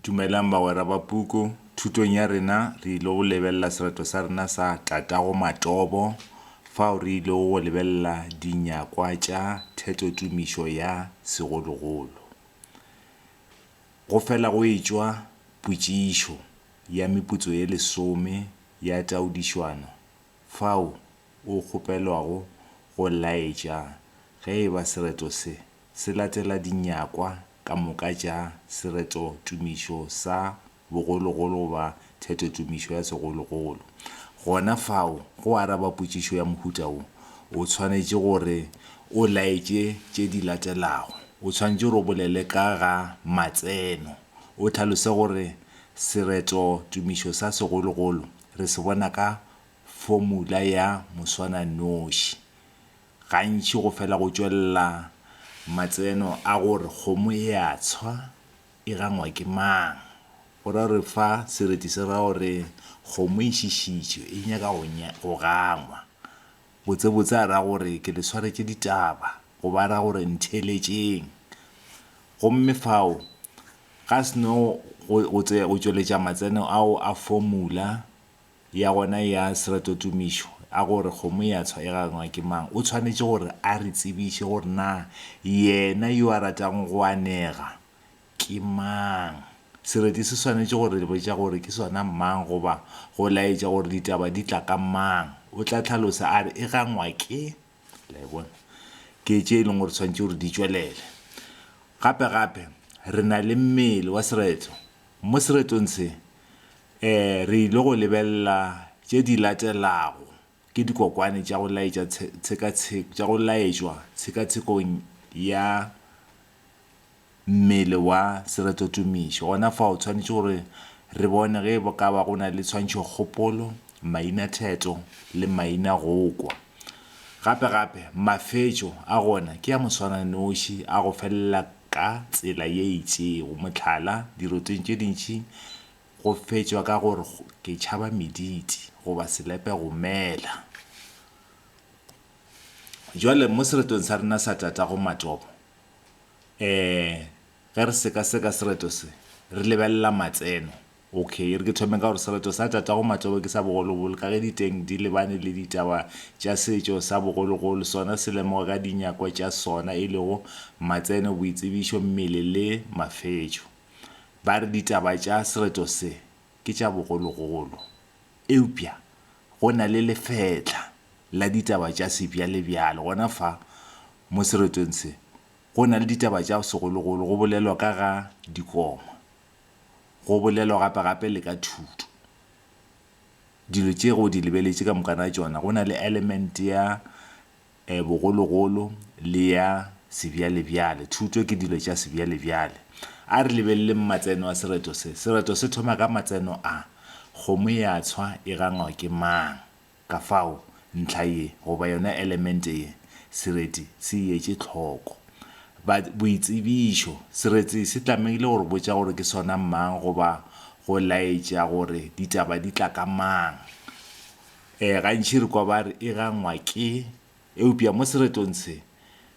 Dumelang bagwera ba puku. Thutong ya rena re ile go lebelela sereto sa rena sa tatago Matobo fao re ilego go lebelela dinyakwa tša thetotumišo ya segologolo. Go fela go etšwa potšišo ya meputso ye lesome ya taodišwano fao o kgopelwago go laetša ge e ba sereto se se latela dinyakwa ka moka tša sereto-tumišo sa bogologolo goba theto-tumišo ya segologolo. Gona fao, go araba potšišo ya mohuta wo, o tshwanetše gore o laetše tše di latelago. O tshwanetše gore o bolele ka ga matseno, o hlalose gore sereto-tumišo sa segologolo re se bona ka fomula ya moswananoši. Gantši go fela go tšwelela matseno a gore kgomo e a tshwa e gangwa ke mang, go ra gore fa sereti se ra gore kgomo e šišitšwe e nyaka go go gangwa. Botsebotse a ra gore ke le swaretše ditaba goba a ra gore ntheeletšeng. Gomme fao ga se no go go tšweletša matseno ao a formula. ya gona ya seratotumišo a gore kgomo ya tshwa e gangwa ke mang, o tshwanetše gore a re tsebiše gore na yena yo a ratago go anega ke mang. Sereti se swanetše go re botša gore ke sona mang goba go laetša gore ditaba di tla ka mang. O tla hlalosa a re e gangwa ke. Le a e bona? Ke tše e leng gore tshwanetše gore di tšwelele. Gape-gape re na le mmele wa sereto. Mo seretong se, re ile go lebelela tše di latelago, Ke dikokwane tša go laetša tshekatsheko, tša go laetšwa tshekatshekong ya mmele wa seretotumiši. Gona fao, o swanetše gore re bone ge e ka ba go na le tshwantšhokgopolo, mainatheto le mainagokwa. Gape-gape, mafetšo a gona ke a moswananoši a go felela ka tsela ye itšego. Mohlala, diroteng tše dintši go fetšwa ka go re ke tšhaba mediti goba selepe go mela. Bjale, mo seretong sa rena sa tatago matopo, um ge re sekaseka sereto se, re lebelela matseno. Ok, e re ke thome ka gore sereto sa tatago Matsobe ke sa bogologolo ka ge diteng di lebane le ditaba tša setšo sa bogologolo, sona se lemogwa ka dinyakwa tša sona e lego matseno, boitsebišo, mmele le mafetšo. Ba re ditaba tša sereto se ke tša bogologolo eupša go na le lefetla la ditaba tša sebjalebjale gona fa mo seretong se go na le ditaba tša segologolo go bolelwa ka ga dikoma. go bolelwa gape-gape le ka thuto. Dilo tše go di lebeletše ka mokana tšona go na le element ya bogologolo le ya sebjalebjale. Thuto ke dilo tša sebjalebjale. A re lebeleleng matseno a sereto se. Sereto se thoma ka matseno a, Kgomo ya tshwa e gangwa ke mang? Kafao, ntlha ye goba yona elemente ye, sereti se e etše tlhoko. Ba, boitsebišo, sereti se tlamehile go re botša gore ke sona mang goba go laetša gore ditaba di tla ka mang. E, gantši re kwa ba re e gangwa ke, eupša mo seretong se,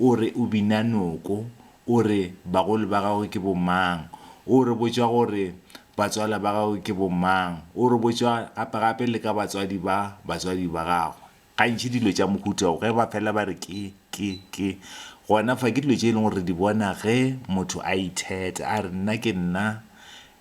O re o bina noko. O re bagolo ba gago ke bomang. O re botša gore batswala ba gago ke bomang. O re botša gape-gape le ka batswadi ba batswadi ba gago. Gantši dilo tša mohuta wo, ge ba fela ba re ke, ke, ke, gona fa ke dilo tše e leng gore re di bona ge motho a itheta, a re nna ke nna,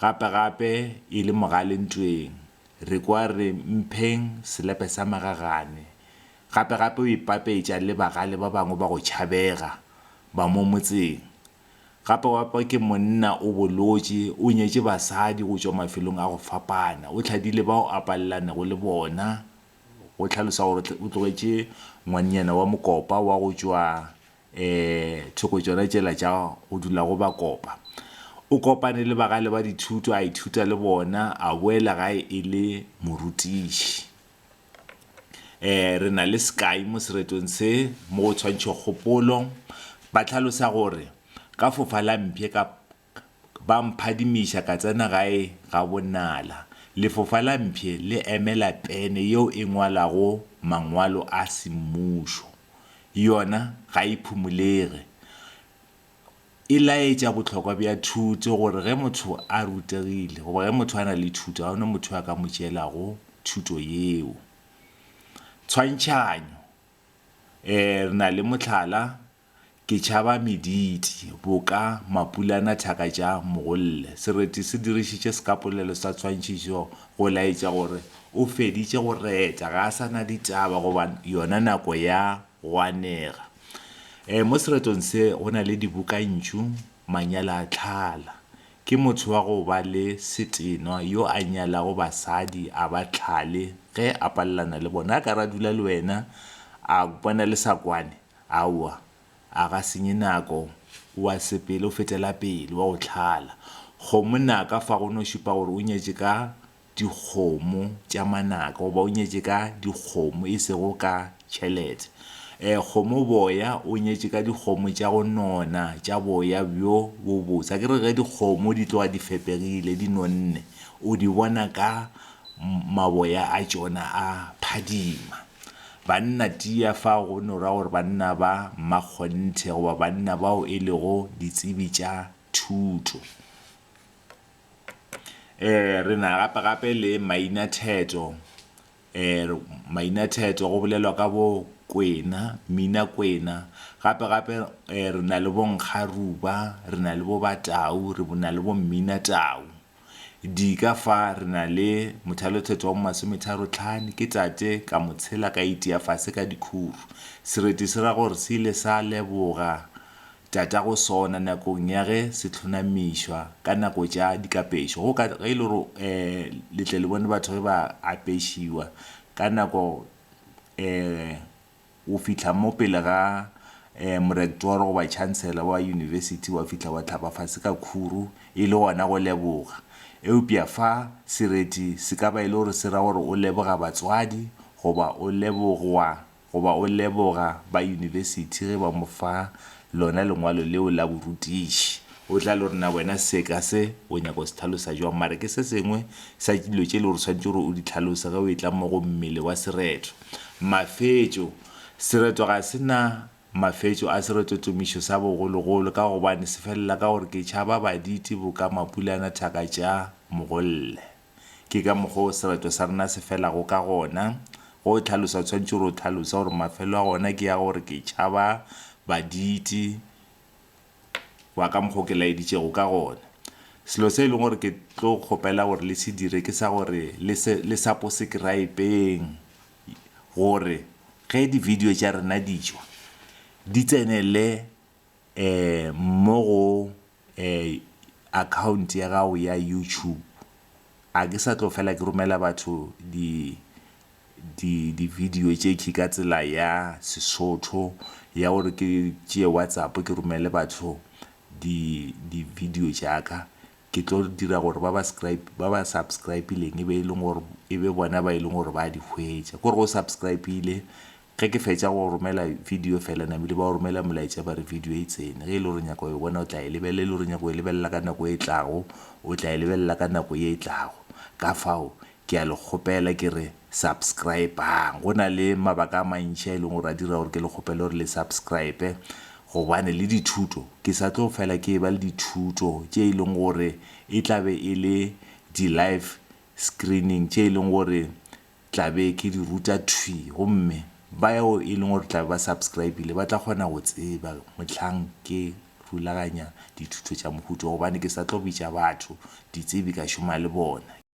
Gape-gape e le mogale ntweng, re kwa re mpheng selepe sa magagane. Gape-gape o ipapetša le bagale ba bangwe ba go tšhabega ba mo motseng. Gape-gape ke monna o bolotše, o nyetše basadi go tšwa mafelong a go fapana. O tlhadile bao a palelanego le bona, go hlalosa gore o tlogetše ngwannyana wa mokopa wa go tšwa thoko tšona tšela tša go dula go ba kopa. O kopane le bagale ba dithuto, a ithuta le bona, a boela gae e le morutiši. Re na le sekai mo seretong se, mo go tshwantšho kgopolo, ba tlhalosa gore ka fofa la mpye ka, ba mphadimiša ka tsena gae ga bonala. Lefofa la mpshe le emela pene yeo e ngwalago mangwalo a semmušo. Yona ga e phumulege. E laetša bohlokwa bja thuto gore ge motho a rutegile goba ge motho a na le thuto ga go na motho yo a ka mo tšeelago thuto yeo. Tshwantšhanyo, Ee, re na le mohlala Ke tšhaba mediti, boka, mapulana, thaka tša mogolle. Sereti se dirišitše sekapolelo sa tshwantšhišo go laetša gore o feditše go reta, ga a sa na ditaba goba yona nako ya go anega. E, mo seretong se go na le dibokantšu, manyalo a tlhala. Ke motho wa go ba le setenwa yo a nyalago basadi a ba tlhale ge a palelana le bona. A ka re a dula le wena, a bona le sa kwane, Aowa, a ga senye nako, o a sepele o fetela pele, wa go tlhala. Kgomo naka fa go no šupa gore o nyetše ka dikgomo tša manaka goba o nyetše ka dikgomo e sego ka tšhelete. Ee, kgomo boya, o nyetše ka dikgomo tša go nona tša boya bjo bo botse. A ke re ge dikgomo di tloga di fepegile, di nonne, o di bona ka maboya a tšona a phadima. Banna tia fa go no ra gore banna ba mmakgonthe goba banna bao e lego ditsebi tša thuto. E re na gape-gape le mainatheto. E mainatheto go bolelwa ka bo kwena, minakwena. Gape-gape e re na le bonkgaruba, re na le bo batau, re na le bo mminatau. Dika fa re na le mothalothetso wa mo masometharo tlhane, ke tate, ka mo tshela ka itia fase ka dikhuru. Sereti se ra gore se ile sa leboga tatago sona nakong ya ge se hlonamišwa ka nako tša dikapešo. Go ka, ge e le gore e, le tle le bone batho ge ba apešiwa ka nako e, O fihla mo pele ga um morektoro goba chancellor wa yunibesithi, wa fihla wa hlapa fase ka khuru, e le gona go leboga. Eupša fa, sereti se ka ba e le gore se ra gore o leboga batswadi, goba o lebogwa, goba o leboga ba yunibesithi ge ba mo fa Lona lengwalo leo la borutiši. O tla lo rna wena seka se o nyaka go se tlhalosa jwang, mare ke se sengwe sa dilo tše le gore swanetše gore o di tlhalose ge o etla mo go mmele wa sereto. Mafetšo. Sereto ga se na mafetšo a seretotomišo sa bogologolo ka gobane se felela ka gore ke tšhaba baditi boka mapulana thaka tša mogolle. Ke ka mokgwa o serato sa rena se felago ka gona. Ge o hlalosa o swanetše gore o hlalosa gore mafelo a gona ke a gore ke tšhaba baditi ba ka mokgwa o ke laeditšego ka gona. Selo se e leng gore ke tlo kgopela gore le se dire ke sa gore le se le saposekerayepeng gore ge di video tša rena ditšwa di tsenele mo go Account ya gago ya YouTube a ke sa tlo fela ke romela batho di di di video tše ke ka tsela ya Sesotho ya gore ke tšee WhatsApp ke romele batho di di video tša ka ke tlo dira gore ba ba ba ba subscribe-ileng e be e leng gore e be bona ba e leng gore ba di hwetša ko re o subscribe-ile Ge ke fetša go romela video fela namile ba o romela molaetša ba re video e tsene. Ge e le gore o nyaka go e bona o tla e lebelela, e le gore o nyaka go e lebelela ka nako e tlago o tla e lebelela ka nako ye e tlago. Ka fao ke a le kgopela ke re subscribe-ang. Go na le mabaka a mantši a e leng gore a dira gore ke le kgopele gore le subscribe gobane le dithuto ke sa tlo fela ke eba le dithuto tše e leng gore e tla be e le di-live screening tše e leng gore tla be ke di ruta thwi gomme bao e leng gore tla be ba subscribile ba tla kgona go tseba mohlang ke rulaganya dithuto tša mohuta gobane ke sa tlo bitša batho ditsebi ka šoma le bona.